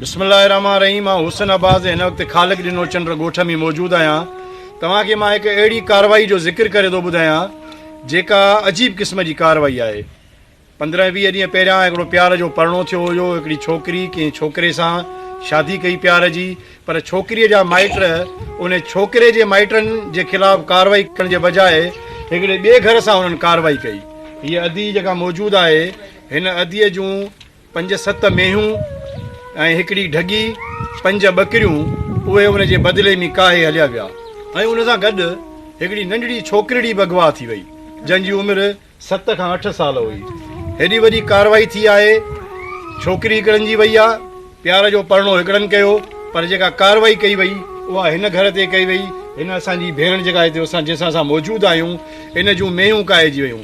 بسم الله الرحمٰن الرحيم مان حسن عباس ۽ هن وقت خالق ڏنو چنڊ ڳوٺ ۾ موجود آهيان توهان کي مان هڪ اهڙي ڪارروائي جو ذڪر ڪري ٿو ٻڌايان جيڪا عجيب قسم جي ڪارروائي آهي پندرهن ويهه ڏينهن پهريان هڪڙو پيار جو پرڻو ٿيو هيو هڪڙي ڇوڪري ڪنهن ڇوڪري سان شادي ڪئي پيار جي پر ڇوڪريء جا مائٽ ان ڇوڪري جي مائٽن جي خلاف ڪارروائي ڪرڻ جي بجاء هڪڙي ٻئي گهر سان هنن ڪارروائي ڪئي هيء ادي جيڪا موجود آهي هن اديء جون پنج ست مينهون ۽ هڪڙي ڍڳي، پنج ٻڪريون، اهي ان جي بدلي ۾ ڪاهي هليا ويا ۽ ان سان گڏ هڪڙي ننڍڙي ڇوڪرڙي به اغوا ٿي وئي، جنهن جي عمر ست کان اٺ سال هئي. هيڏي وڏي ڪارروائي ٿي آهي، ڇوڪري هڪڙن جي وئي آ، پيار جو پرڻو هڪڙن ڪيو، پر جيڪا ڪارروائي ڪئي وئي، اها هن گهر تي ڪئي وئي، هن اسان جي ڀيڻ جيڪا هتي اسان جنهن سان اسان موجود آهيون، ان جون مينهون ڪاهجي ويون.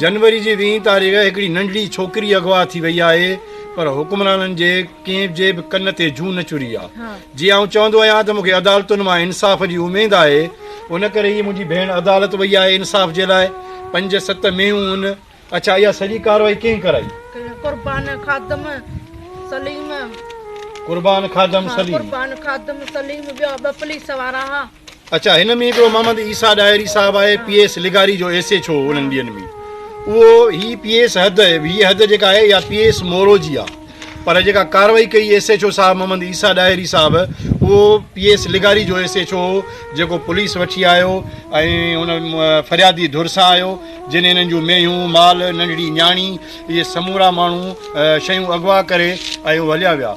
جنوري جي ويهين تاريخ هڪڙي ننڍڙي ڇوڪري اغوا ٿي وئي آهي پر حڪمرانن جي ڪنهن جي به ڪن تي جون نه چري آ جي آئون چوندو آهيان ته مون کي عدالتن مان انصاف جي اميد آهي ان ڪري هي منهنجي ڀيڻ عدالت وئي آهي انصاف جي لاء پنج ست مينهون ان اڇا اها سڄي ڪارروائي ڪنهن ڪرائي قربان خادم سليم قربان خادم سليم قربان خادم سليم ٻيا ٻه پوليس وارا ها اچا هن ۾ هڪڙو محمد عيسيٰ ڏاهري صاحب آهي پي ايس لغاري جو ايسي ڇو انهن ٻين ۾ اهو هي پي ايس حد هي حد جيڪا آهي يا پي ايس مورو جي آهي پر جيڪا ڪارروائي ڪئي ايس ايڇ او صاحب محمد عيسيٰ ڏاهري صاحب اهو پي ايس لغاري جو ايس ايڇ او هو جيڪو پوليس وٺي آيو ۽ ان فريادي ڌر سان آيو جن انهن جون مينهون مال ننڍڙي نياڻي اهي سمورا ماڻهو شيون اغوا ڪري ۽ هليا ويا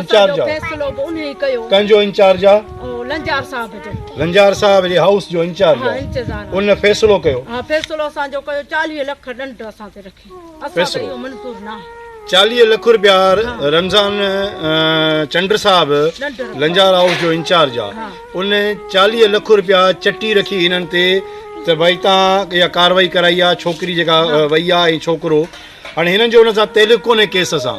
انچارج آ فيصلو به انهي ڪيو ڪنهن جو انچارج آ لنجار صاحب جو لنجار صاحب جي هائوس جو انچارج آ انتظار ان فيصلو ڪيو ها فيصلو اسان جو ڪيو 40 لک ڏنڊ اسان تي رکي اسان تي اهو منظور نه آهي 40 لک روپيا رمضان چنڊ صاحب لنجار هائوس جو انچارج آ ان 40 لک روپيا چٽي رکي انهن تي ته ڀائی تان يا ڪاروائي ڪرائي آ ڇوڪري جيڪا وئي آ ۽ ڇوڪرو هاڻي هنن جو ان سان تعلق ڪونهي ڪيس سان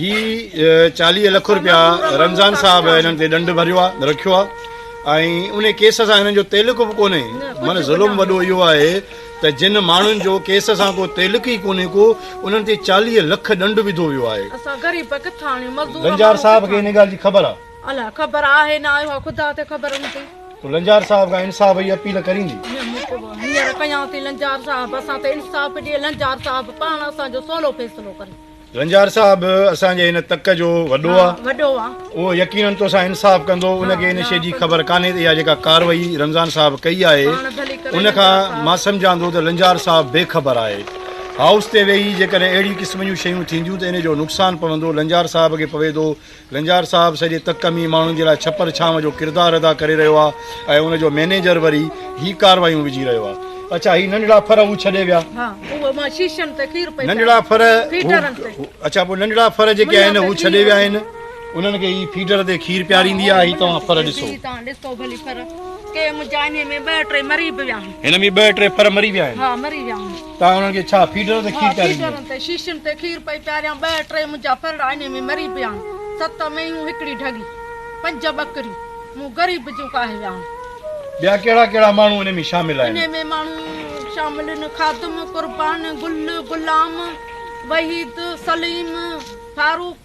هي چاليهه لک رپيا رمضان صاحب هنن تي ڏنڊ ڀريو آ رکيو آ ۽ ان ڪيس سان هنن جو تعلق به ڪونهي من ظلم وڏو اهو آهي ته جن ماڻهن جو ڪيس سان ڪو تعلق ئي ڪونهي ڪو انهن تي چاليهه لک ڏنڊ وڌو ويو آهي اسان غريب ڪٿان آڻيون مزدور لنجار صاحب کي ان ڳالهه جي خبر آ الا خبر آهي نه آهي خدا تي خبر هوندي تو لنجار صاحب کان انصاف جي اپيل ڪريندي هينئر ڪيان ٿي لنجار صاحب اسان تي انصاف ڏي لنجار صاحب پاڻ اسان جو سولو فيصلو ڪري رنجار صاحب اسان جي هن تڪ جو وڏو آ وڏو آ اهو يقينن تو سان انصاف ڪندو ان کي ان شي جي خبر ڪانهي ته اها جيڪا ڪاروائي رمضان صاحب ڪئي آهي ان کان مان سمجهان ٿو ته رنجار صاحب بي خبر آهي هائوس تي ويهي جيڪڏهن اهڙي قسم جون شيون ٿينديون ته ان جو نقصان پوندو رنجار صاحب کي پوي ٿو لنجار صاحب سڄي تڪ ۾ ماڻهن جي لاء ڇپر ڇانو جو ڪردار ادا ڪري رهيو آ ۽ ان جو مئنيجر وري هي ڪاروايون وجهي رهيو آ اڇا هي ننڍڙا ڦر هو ڇڏي ويا ننڍڙا ڦر اڇا پوء ننڍڙا ڦر جيڪي آهن هو ڇڏي ويا آهن انهن کي هي فيڊر تي کير پياريندي آ هي توهان ڦر ڏسو هن ۾ ٻه ٽي ڦر مري ويا آهن توهان انهن کي ڇا فيڊرن تي کير پياريندي آهيان؟ ها، فيڊرن تي، شيشين تي کير پئي پياريان، ٻه ٽي منهنجا ڦرڙا انهي ۾ مري پيا آهن، ست مينهون، هڪڙي ڍڳي، پنج ٻڪريون، مون غريب جون ڪاهي ويا آهن. ٻيا ڪهڙا ڪهڙا ماڻهو انهي ۾ شامل آهن؟ انهي ۾ ماڻهو شامل آهن، خادم، قربان، گل، غلام، وحيد، سليم، فاروق،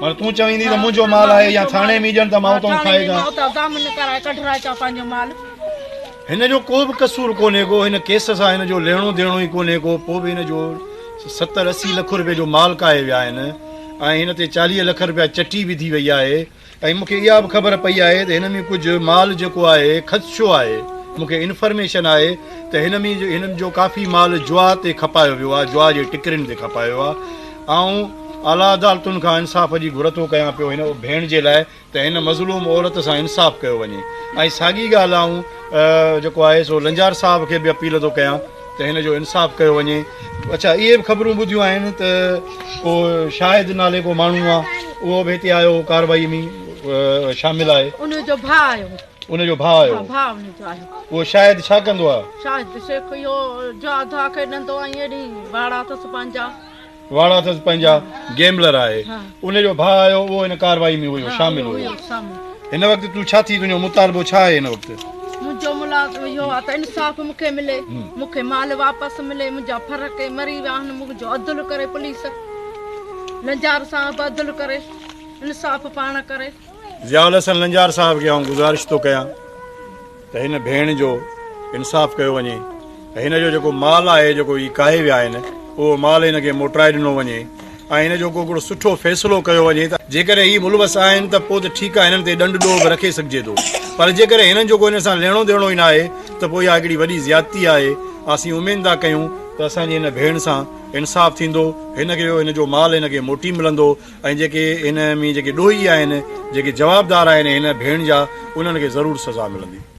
پر تون چويندي ته منهنجو مال آهي يا ٿاڻي ۾ ڄڻ ته مان اتان کائي جان ته ضامن ڪرائي ڪڍرائي چا پنهنجو مال هن جو ڪو به قصور ڪونهي ڪو هن ڪيس سان هن جو لهڻو ديڻو ئي ڪونهي ڪو پوء به هن جو ستر اسي لک روپيه جو مال ڪاهي ويا آهن ۽ هن تي چاليهه لک روپيه چٽي وڌي وئي آهي ۽ مون کي اها به خبر پئي آهي ته هن ۾ ڪجهه مال جيڪو آهي خدشو آهي، مون کي انفرميشن آهي ته هن ۾ هن جو ڪافي مال جوا تي کپايو ويو آهي، جوا جي ٽڪرين تي کپايو ويو آهي، آئون اعليٰ عدالتن کان انصاف جي گهر ٿو ڪيان پيو هن ڀيڻ جي لاء ته هن مظلوم عورت سان انصاف ڪيو وڃي ۽ ساڳي ڳالهه آئون جيڪو آهي سو لنجار صاحب کي به اپيل ٿو ڪيان. ته هن جو انصاف ڪيو وڃي. اڇا اهي به خبرون ٻڌيون آهن ته ڪو شاهد نالي ڪو ماڻهو آ اهو به هتي آيو هو ڪاروائي ۾ شامل آهي. ان جو ڀاء آيو هو. ان جو ڀاء آيو هو. ڀاء ان جو آيو هو. اهو شاهد ڇا ڪندو آ؟ شاهد شيخ اهو جادو آ کيڏندو ۽ اهڙي واڙا اٿس پنهنجا. واڙا اٿس پنهنجا گيمبلر آهي ان جو ڀاء آيو اهو ان ڪارروائي ۾ هيو شامل هيو هن وقت تون ڇا ٿي تنهنجو مطالبو ڇا آهي هن وقت منهنجو ملاقات اهو آهي ته انصاف مون کي ملي مون کي مال واپس ملي منهنجا ڦر ڪي مري ويا آهن منهنجو عدل ڪري پوليس لنجار صاحب عدل ڪري انصاف پاڻ ڪري ضياء الحسن لنجار صاحب کي آئون گذارش ٿو ڪيان ته هن ڀيڻ جو انصاف ڪيو وڃي ته هن جو جيڪو مال آهي جيڪو هي ڪاهي ويا آهن اهو مال هن کي موٽرائي ڏنو وڃي ۽ هن جو ڪوڪڙو سٺو فيصلو ڪيو وڃي ته جيڪڏهن هي ملوث آهن ته پوء ته ٺيڪ آهي هنن تي ڏنڊ ڏوهه به رکي سگهجي ٿو پر جيڪڏهن هنن جو ڪو هن سان ليڻو ديڻو ئي ناهي ته پوء اها هڪڙي وڏي زيادتي آهي اسين اميد ٿا ڪيون ته اسان جي هن ڀيڻ سان انصاف ٿيندو هن کي هن جو مال هن کي موٽي ملندو ۽ جيڪي هن ۾ جيڪي ڏوهي آهن جيڪي جوابدار آهن هن ڀيڻ جا انهن کي ضرور سزا ملندي.